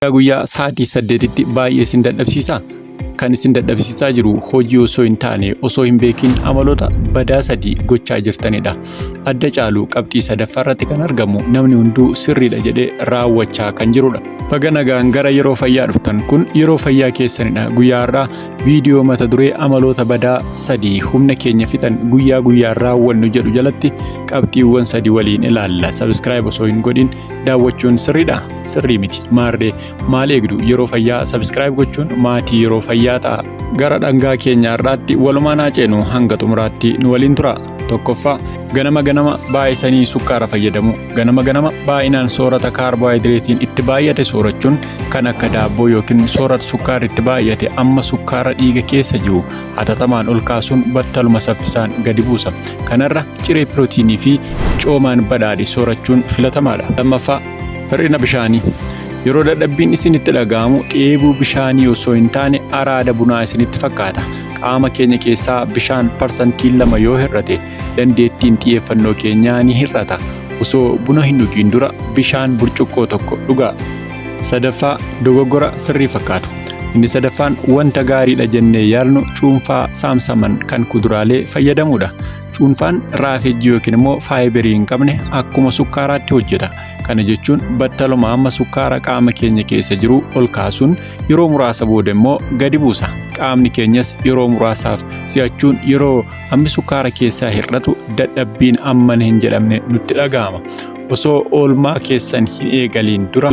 guyyaa guyyaa sa'aatii saddeetitti baay'ee isin dadhabsiisa. Kan isin dadhabsiisaa jiru hojii osoo hin taane osoo hin beekin amaloota badaa sadii gochaa jirtanidha. Adda caalu qabxii sadaffaa irratti kan argamu namni hunduu sirriidha jedhee raawwachaa kan jirudha. Baga nagaan gara yeroo fayyaa dhuftan kun yeroo fayyaa keessanidha. Guyyaa har'aa viidiyoo mata duree amaloota badaa sadii humna keenya fixan guyyaa guyyaan raawwannu jedhu jalatti qabxiiwwan sadii waliin ilaalla. Sabiskiraayib osoo hin godhin daawwachuun sirriidha. sirrii miti maarree maal eegdu yeroo fayyaa sabiskiraayib gochuun maatii yeroo fayyaa ta'a gara dhangaa keenya har'aatti walumaan haa ceenu hanga xumuraatti nu waliin tura tokkoffaa ganama ganama baay'isanii sukkaara fayyadamu ganama ganama baay'inaan soorata kaarboohayidireetiin itti baay'ate soorachuun kan akka daabboo yookiin soorata sukkaarri itti baay'ate amma sukkaara dhiiga keessa jiru hatattamaan ol kaasuun battaluma saffisaan gadi buusa kanarra ciree pirootiinii fi coomaan badhaadhe soorachuun filatamaadha lammaffaa Hir'ina bishaanii. Yeroo dadhabbiin isinitti dhaga'amu dheebuu bishaanii osoo hin taane araada bunaa isinitti fakkaata. Qaama keenya keessaa bishaan parsantiin lama yoo hir'ate dandeettiin xiyyeeffannoo keenyaa ni hir'ata. Osoo buna hin dhugiin dura bishaan burcuqqoo tokko dhugaa. Sadaffaa dogoggora sirrii fakkaatu. Inni sadaffaan wanta gaariidha jennee yaalnu cuunfaa saamsaman kan kuduraalee fayyadamuudha. Cuunfaan raafejjii yookiin immoo faayibirii hin qabne akkuma sukkaaraatti hojjeta. Kana jechuun battaluma amma sukkaara qaama keenya keessa jiru ol kaasuun yeroo muraasa booda immoo gadi buusa. Qaamni keenyas yeroo muraasaaf si'achuun yeroo hammi sukkaara keessaa hir'atu dadhabbiin ammana hin jedhamne nutti dhaga'ama. Osoo oolmaa keessan hin eegaliin dura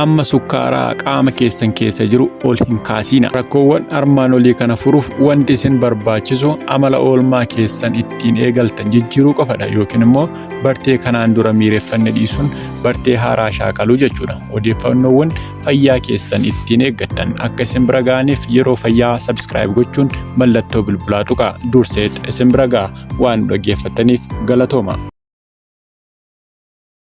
Amma sukkaaraa qaama keessan keessa jiru ol hin kaasiina. Rakkoowwan armaan olii kana furuuf wanti isin barbaachisu amala oolmaa keessan ittiin eegaltan jijjiiruu qofadha yookiin immoo bartee kanaan dura miireffanne dhiisuun bartee haaraa shaakaluu jechuudha. Odeeffannoowwan fayyaa keessan ittiin eeggattan akka isin bira ga'aniif yeroo fayyaa sabiskiraayib gochuun mallattoo bilbilaa tuqaa durseet isin bira ga'a waan dhaggeeffataniif galatooma.